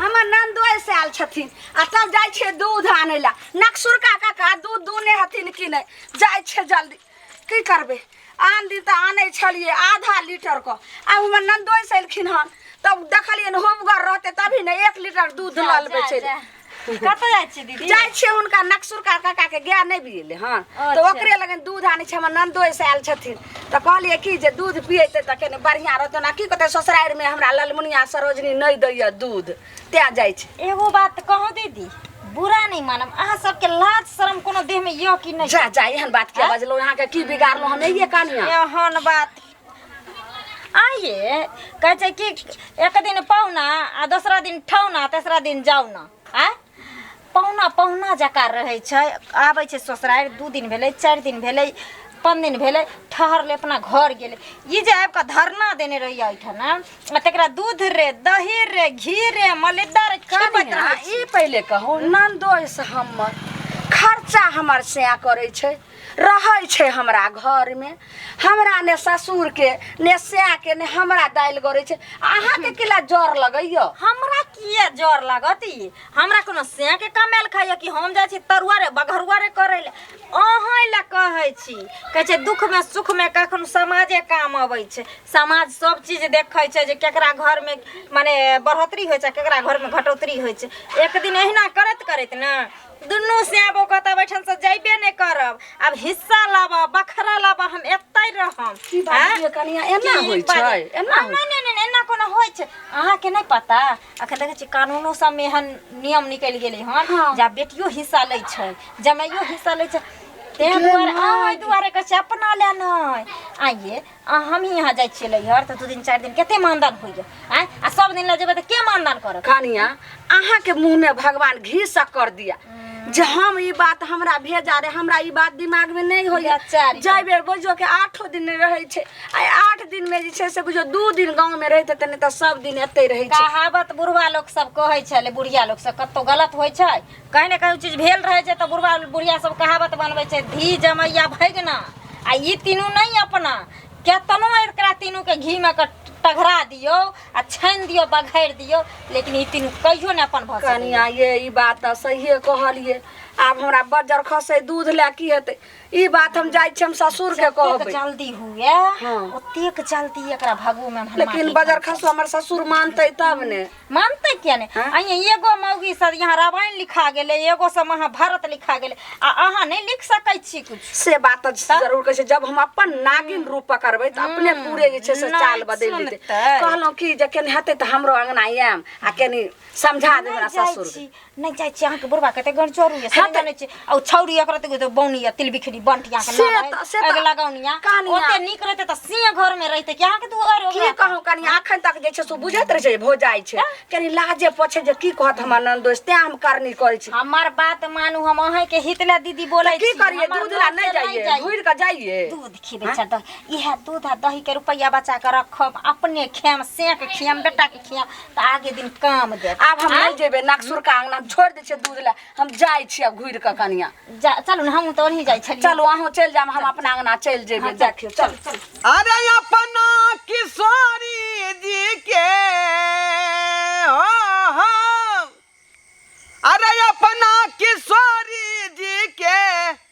हमर नंदोय से आयल छथिन आ तब जाइ छै दूध आनै ला नक्सुरका काका दूध दूने हथिन कि नै जाइ छै जल्दी की करबै आन दिन तऽ आनै छलियै आधा लीटर क आ हमर नंदोय से एलखिन हन तब देखलियै ने होबगर रहतै तभी ने एक लीटर दूध जा, लल जा, बेचै जा। कतऽ जाइ छी दीदी जाइ छियै हुनका नक्सुरका काका के गाय नहि बिएले हन तऽ अच्छा। ओकरे लगन दूध आनै छै हमर नंदोय से आयल छथिन तऽ कहलियै कि जे दूध पियेतै तऽ कनि बढ़िआँ रहतै ओना की कहतै ससुरारिमे हमरा ललमुनिया सरोजनी नहि दैए दूध तैँ जाइ छै एगो बात कहूँ दीदी बुरा नहीं मानम अहाँ सबके लाज शर्म कोनो देह में यो कि नहीं जा जा एहन बात किया बजलहुँ अहाँके की बिगाड़लहुँ हम एहिए कनिया एहन बात आइए कहे छै कि एक दिन पौना आ दूसरा दिन ठौना तेसरा दिन जाउना आय पहुना पहुना जकाँ रहै छै आबै छै ससुरारि दू दिन भेलै चारि दिन भेलै पाँच दिन भेलै ठहरलै अपना घर गेलै ई जे आबि कऽ धरना देने रहियै एहिठाम आ तकरा दूध रे दही रे घी रे मलिद्दा रे खिबैत कनिया, रहै छी ई पहिले कहू नंदोस हमर खर्चा हमर सैया करै छै रहै छै हमरा घरमे हमरा ने ससुरके ने सएहके ने हमरा दालि गरै छै अहाँके किला जर लगैया हमरा किए जर लागत ई हमरा कोनो से के कमायल खाइए कि हम जाइ छी तरुआ रे बघरुआ रे करै ले अहाँ लए कहै छी कहै छै दुखमे सुखमे कखनो समाजे काम अबै छै समाज सब चीज देखै छै जे केकरा घरमे मने बढ़ोतरी होइ छै केकरा घरमे घटोतरी होइ छै एक दिन एहिना करैत करैत ने दुनू स्याबो कऽ तऽ बैठन से जैबे नहि करब आब हिस्सा लाबऽ बखरा लाबऽ हम एतै रहम की बात आँय? छियै कनिया एना की होइ बात- छै एना आ, होइ नहि नहि नहि एना कोनो होइ छै अहाँके नहि पता अखन देखै छी कानूनो सबमे एहन नियम निकलि गेलै हन हँ। जे आब बेटियो हिस्सा लै छै जमाइयो हिस्सा लै छै ताहि दुआरे अहाँ दुआरे कहै छै अपना लए नहि आइए आ हमही यहाँ जाइ छियै लैहर तऽ दू दिन चारि दिन कते मानदान होइए आँय आ सब दिन लऽ जेबै तऽ के मानदान करत कनिया अहाँ के मुंह में भगवान घी शक्कर दिया जे हम ई बात हमरा भेजा रे हमरा ई बात दिमाग में नहीं होइए बेचारी। जाय बेर बुझो के आठो दिन रहे छै आ आठ दिन में जे छै से बुझो दू दिन गांव में रहते तऽ नहि तऽ सब दिन एते रहे छै कहावत बुढ़वा लोक सब कहै छलै बुढ़िया लोक सब कतौ गलत होइ छै कहीं ने कहीं चीज भेल रहे छै तो बुढ़वा बुढ़िया सब कहावत बनबे छै धी जमैया भैगना आ ई तीनू नहीं अपना केतनो एकरा तीनू के घी में के टघरा दियो आ छानि दियो बघारि दियो लेकिन ई तीनू कहियो ने अपन भऽ सकैए। कनिया ये ई बात तऽ सहिए कहलिए आब हमरा बज्जर खसे दूध लए की हेतै ई बात हम जाइ छी हम ससुर के जतेक कहबै जल्दी हुए हाँ। ओतेक जल्दी एकरा भगू में हम लेकिन माटी बज्जर खसो हमर ससुर मानतै तब ने मानते किया ने हाँ? अइया एगो मौगी से यहाँ रामायण लिखा गेले एगो से महाभारत लिखा गेले आ अहाँ नहीं लिख सकै छी कुछ से बात तऽ तऽ? जरूर कहै छै जब हम अपन नागिन रूप पकड़बै तऽ अपने पूरे जे छै से नहि चाल बदलि देतै सुनतै। कहलहुँ कि जे केने हेतै तऽ हमरो अङ्गना आयम आ कनि समझा देबै हमरा जाइ ससुर छी नहीं जाय छी अहाँ के बुढ़वा के ते गण चोरू ये हाँ सब त- जाने छी औ छौरी एकरा ते तो बौनी या तिल बिखरी बंटिया के से ना त- से त- अग लगाउनिया कहानिया। ओते नीक रहते त सिंह घर में रहते कि अहाँ के दुआर की ओकरा कहूँ कनी अखन तक जे छै से बुझैत रहै छै भो जाइ छै कनी लाजे पछे जे की कहत हमर ननदोस तें हम करनी करै छी हमार बात मानू हम अहे के हितला दीदी बोले की छी करिए हमार दूध ला नोट से नहीं जाइए घुर के जाइए दूध खी बेचा दही इहे दूध आ दही के रुपया बचा के रखब अपने खेम सेक खेम बेटा के खेम तऽ आगे दिन काम दे आब हम नहि जेबै नागसुर का अंगना हम छोड़ि दै छियै दूध लए हम जाइ छी आब घुरि कऽ कनिया जा चलू ने हमहूँ तऽ ओनही जाइ छलियै चलू अहूँ चलि जायब हम अपना अंगना चलि जेबै देखियौ चल चल अरे अपना किशोरी जी के हो हो। अरे अपना किशोरी जी के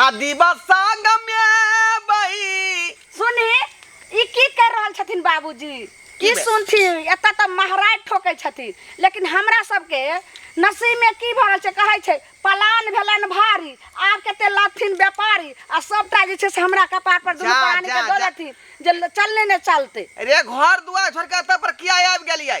आ दिवा संग में बही सुनी ई की कर रहल छथिन बाबूजी की की बे- सुनथि एतऽ तऽ महाराज ठोकै छथिन लेकिन हमरा सबके नसीबमे की भऽ रहल छै कहै छै पलान भेलन भारी आब कते लथिन व्यापारी आ सबटा जे छै से हमरा कपार पर दुनू जा, प्राणी जा, के दऽ जा। देथिन जे ल- चलने ने चलते रे घर दुआर छोड़ के एतऽ पर किया आबि गेलियै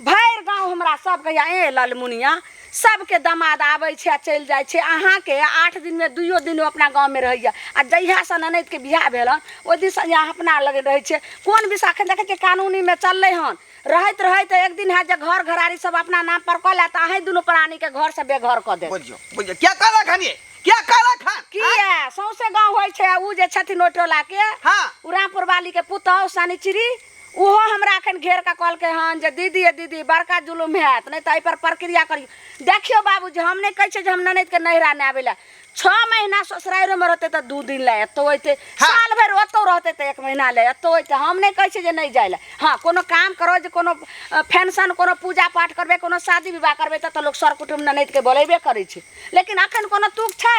भरि गाँव हमरा सब कहैया ए ललमुनिया सबके दमाद आबै छै आ चलि जाइ छै अहाँके आठ दिनमे दुइयो दिन अपना गाँवमे रहैया आ जहियासँ ननदिके बियाह भेल हन ओहि दिनसँ यहाँ अपना लग रहै छै कोन विषय एखन देखै छियै कानूनीमे चललै हन रहैत रहैत एक दिन हैत जे घर घरारी सब अपना नाम पर कऽ लेत अहीं दुनू प्राणीके घरसँ बेघर कऽ देत बुझियो बुझियो क्या कहलक हन ये क्या कहलक हन किया सौंसे गाँव होइ छै आ ऊ जे छथिन ओहि टोलाके हाँ। उ रामपुर वाली के पुतौह शनिचरी ओहो हमरा एखन घेर कऽ कहलकै हन जे दीदी ए दीदी बड़का जुलुम हैत नहि तऽ एहिपर प्रक्रिया करियौ देखियौ बाबू जे हम नहि कहै छियै जे हम ननदिके नैहरा नहि आबै लए छओ महीना ससुरारिमे रहतै तऽ दू दिन लए एतौ अयतै हँ। साल भरि ओतौ रहतै तऽ एक महीना लए एतौ अयतै हम नहि कहै छियै जे नहि जाय लए हँ कोनो काम करो जे कोनो फंक्शन कोनो पूजा पाठ करबै कोनो शादी विवाह करबै तऽ तऽ लोक सर कुटुम ननदिके बोलेबे करै छै लेकिन एखन कोनो तुक छै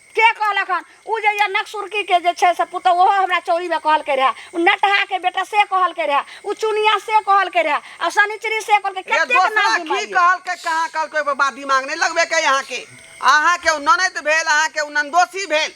के कहलक हन ओ जे यऽ नक्सुरकीके जे छै से पुतहु ओहो हमरा चौरीमे कहलकै रहए ओ नटहाके बेटा से कहलकै रहए ओ चुनिया से कहलकै रहए आ शनिचरी से कहलकै ये कतेक दोसरा नाम की बिमारी यऽ। कहलकै कहाँ कहलकै ओहिपर बात दिमाग नहि लगबे के अहाँके अहाँके ओ ननद भेल अहाँके ओ नंदोसी भेल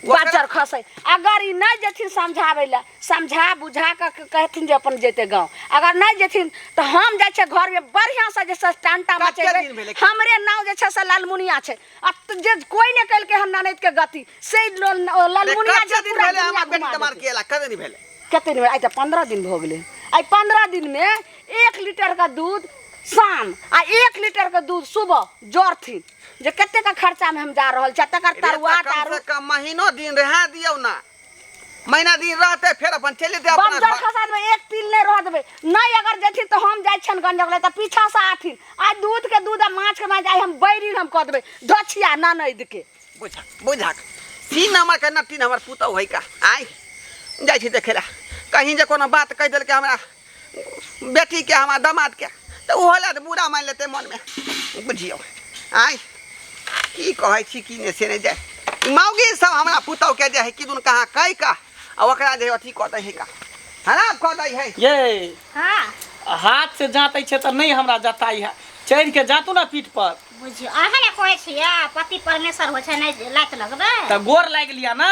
बाजर खसै अगर ई नहि जेथिन समझाबै लए समझा बुझा कऽ क- कहथिन जे अपन जेतै गाँव अगर नहि जेथिन तऽ हम जाइ छियै घरमे बढ़िआँसँ जे छै से टांटा कते मचेबै दिन भेलै? हमरे नाम जे छै से लालमुनिया छै आ त जे कोई ने कल के हम ननद के गति से ई लो- ओ ललमुनिया जे दिन पूरा भेले दुनिया हमर बेटी घुमा तमार देते। केला कदे नहीं भेले कते दिन आई त पंद्रह दिन भो गेले आई पंद्रह दिन में एक लीटर का दूध शाम आ एक लीटर का दूध सुबह जरथिन जे कते का खर्चा में हम जा रहल छी आ तकर तरुआ कम तारू से कम महीनो दिन रहा दियो ना महीना दिन रहते फिर अपन चले दे अपना बंजर घर। खसात में एक तिल नहीं रह देबे नहीं अगर जेथिन तो हम जाय छन गंजक ले तो पीछा से आथिन आज दूध के दूध आ माछ के माछ आई हम बैरिन हम कह देबे धछिया ना नहीं दके बुझक बुझक तीन नंबर के नट्टी नंबर पुतौ है का आय जाइ छी देखे ला कहीं जे कोनो बात कह देलकै हमरा बेटीके हमरा दामादके तऽ ओहो लए तऽ बुरा मानि लेतै मनमे बुझियौ आँय की कहै छी की नहि से नहि जाय मौगी सब हमरा पुतौहके जे है किदुन कहाँ कहि कऽ आ ओकरा जे अथी कऽ दै है का हराब कऽ दै है ये हाँ हाथ से जाँतै छै तऽ नहि हमरा जताइ है चढ़ि के जातू ने पीठ पर बुझियो अहाँ ने कहै छियै पति परमेश्वर होइ छै नहि लात लगबै तऽ गोर लागि लिअ ने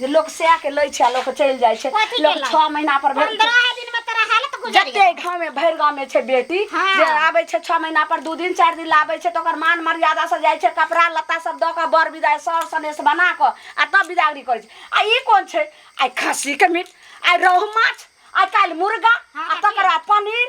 जे लोक सएह के लै छै आ लोक चलि जाइ छै कथी लोक केलक? छओ महीना पर भेल पंद्रह दिन में तोरा हालत गुजर जते गेल गाँव में भरि गाँव में छै बेटी हाँ। जे आबै छै छओ महीना पर दू दिन चारि दिन लाबै छै तऽ ओकर मान मर्यादा से जाइ छै कपड़ा लत्ता सब दऽ कऽ बर विदाइ सर सनेस बना कऽ आ तब विदागरी करै छै आ ई कोन छै आइ खस्सी के मीट आइ रोहु माछ आइ काल्हि मुर्गा हाँ, आ तकर बाद पनीर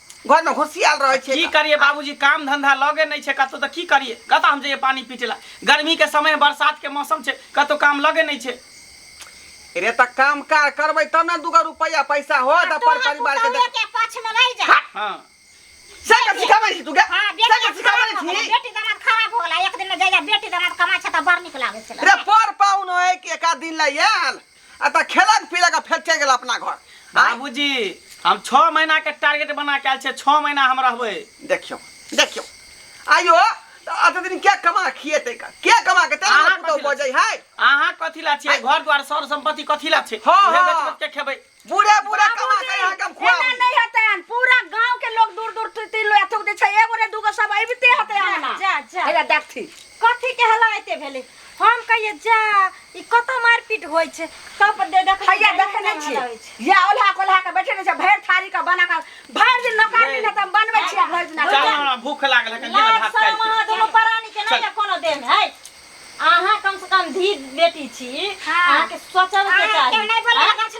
घर में घुसियाल रहे छे की करिए बाबूजी काम धंधा लगे नहीं छे कतो तो की करिए कत हम जाइए पानी पीटे ला गर्मी के समय बरसात के मौसम छे कतो काम लगे नहीं छे रे त काम कार करबे तब ना दूगो रुपया पैसा हो त पर परिवार के देख के पछ में रह जा हां से के सिखावे छी तू के हां बेटी के सिखावे छी बेटी दामाद खराब होला एक दिन जाइए बेटी दामाद कमा छे त बर निकलावे से रे पर पाउन है के का दिन ला याल आ तऽ खेलक पीलक आ फेर चलि गेल अपना घर आँय? बाबूजी हम छओ महीना के टारगेट बना के आयल छियै छओ महीना हम रहबै देखियौ देखियौ आइयो तऽ अत दिन के कमा खिएतै का के कमा के तेना अहाँ पुतौ कथी बजै लए- है अहाँ कथी ला छियै घर द्वार सर संपत्ति कथी ला छै हँ, उहे हँ। बेच बेच के खेबै बूढ़े बूढ़े कमा के यहाँ के हम एना खुआबी नहीं हतन पूरा गांव के लोग दूर दूर ती- ती लोया थूक दे छै एगो ने दूगो सब अबिते हते आना जा जा एला देखथी कथी के हला एते भेलै हम कहिए जा ई कत मारपीट होइ छै सब दे देख हैया देखे नहि छी या ओल्हा कोल्हा के बैठे नहि छै भरि थारी के बना के भरि दिन नौकर दिन त बनबै छी आ भरि दिन चल खाइ छी। हमरा भूख लागल है कनिया लाज भात खाइ शरम छी अहाँ दुनू परानी के नहि चल। कोनो देन है अहाँ कम से कम धी बेटी छी हाँ। अहाँके सोचब के अहाँ चाही केहन नहि बोलबै, हाँ? गाछ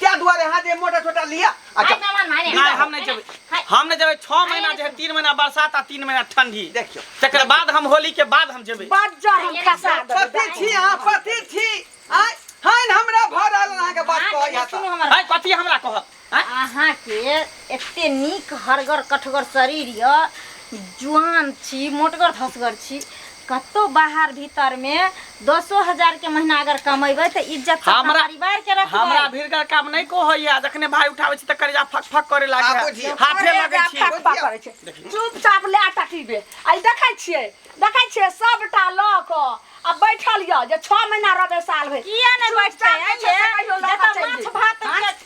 क्या दुआरे हाथ ये मोटा छोटा लिया अच्छा हाय मामा मारे ना हम नहीं जब हाय हम नहीं जब छह महीना जे है तीन महीना बरसात आ तीन महीना ठंडी देखियो तकर बाद हम होली के बाद हम जेबै बड़ जर हम खसा देबै पति छी अहाँ पति छी आय हन हमरा भर आयल अहाँ के बात कहै अहाँ सुनू हमर है कथी हमरा कहत हैं? अहाँ के एते नीक हरगर कठगर शरीर य जुआन छी मोटगर धसगर छी कत्तो बाहर भीतर में दसो हजार के महीना अगर कमेबै तऽ इज्जत तऽ हमरा- परिवार के रखबै हमरा भीड़गर काम नहीं को होइया जखने भाई उठावे छी त करेजा फक फक करे आ लागे बुझियौ। हाथे करे लगे जा छी फक फक करै छै चुपचाप ले टटीबे आई देखै छियै देखै छियै सबटा लऽ कऽ आ बैठल यऽ जे छओ महीना रहबै साल भरि किया नहि बैठतै चुपचाप जे छै से कहियो लऽ कऽ जतऽ चलि माछ जेतै। भात के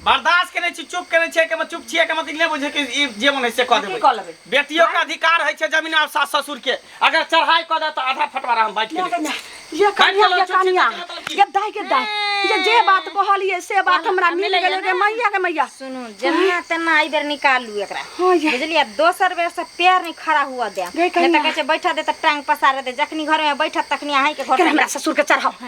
बर्दाश्त केने छी चुप केने छी एकमे चुप छियै एकमे नहि बुझे के ई जे मन है से कह देबै कह लेबै बेटियो के अधिकार है छै जमीन और सास ससुर के अगर चढ़ाई कह दे तो आधा फटवारा हम बैठ के ये कनिया ये कनिया ये दाई के दाई ये जे बात कहलिए से बात हमरा मिल गेल के मैया के मैया सुनू जेना तेना आई बेर निकालू एकरा हां ये बुझलिए दोसर बेर से पैर नहीं खड़ा हुआ दे नहीं तो कहे बैठा दे त टांग पसार दे जखनी घर में बैठत तखनी आही के घर हमरा ससुर के चढ़ाओ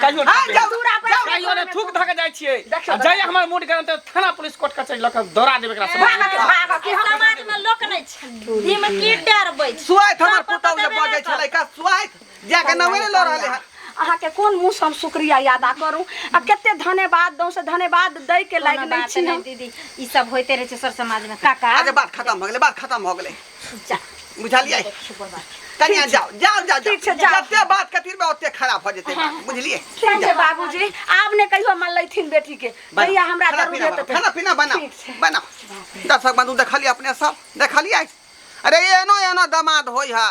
कहियो हाँ, ठोक जाओ, देब। जाओ, जाओ, कहियो ने थूक धऽ के जाइ छियै देखियौ, आ जाइ हमर मूड गरम तऽ थाना पुलिस कोर्ट कचहरी लऽ कऽ दौड़ा देब एकरा सब भागऽ, भागऽ, कि हम- समाज में लोक नहीं छै दिम की डरबै छै सुआइत हमर सब पुतहु जे देबे बजै करत। छलै का सुआइत जाके नवे लऽ रहले हन अहाँके कोन मुँह से हम शुक्रिया यादा करू आ कते धन्यवाद दऊ से धन्यवाद दै के कोनो लायक नहि बात छी नहि हम दीदी ई सब होते रहे छै सर समाज में काका आज बात खत्म हो गेलै बात खत्म हो गेलै जा बुझलियै किछु बना कनिया जाओ जाओ जाओ ठीक छै, जाओ। जते बात कतिर में ओते खराब हो जेते बात, बुझलियै ठीक छै बाबूजी आब ने कहियो मन लैथिन बेटी के बनाओ, भैया हमरा खाना जरूर पीना हेतै बनाओ, खाना पीना बनाओ ठीक छै। बनाओ दर्शक बंधु देखलियै अपने सब देखलियै अरे एनो एनो दामाद होय है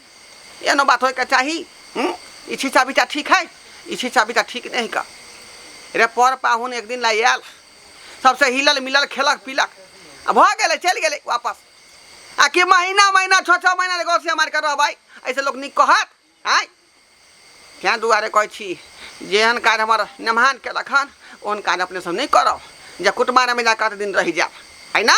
एहनो बात होइके चाही हूँ ई छिछा बिछा ठीक है ई छिछा बिछा ठीक नहीं का रे पर पाहुन एक दिन लाई आयल सबसे हिलल मिलल खेलक पीलक आ भऽ गेलै चलि गेलै वापस आ कि महीना महीना छओ छओ महीना ले गौसिया मारि कऽ रहबै ऐसे लोक नीक कहत आँय तेँ दुआरे कहै छी जेहन काज हमर नेमहान केलक हन ओहन काज अपने सब नहि करब जे कुटमारमे जा कऽ दिन रहि जायब है ना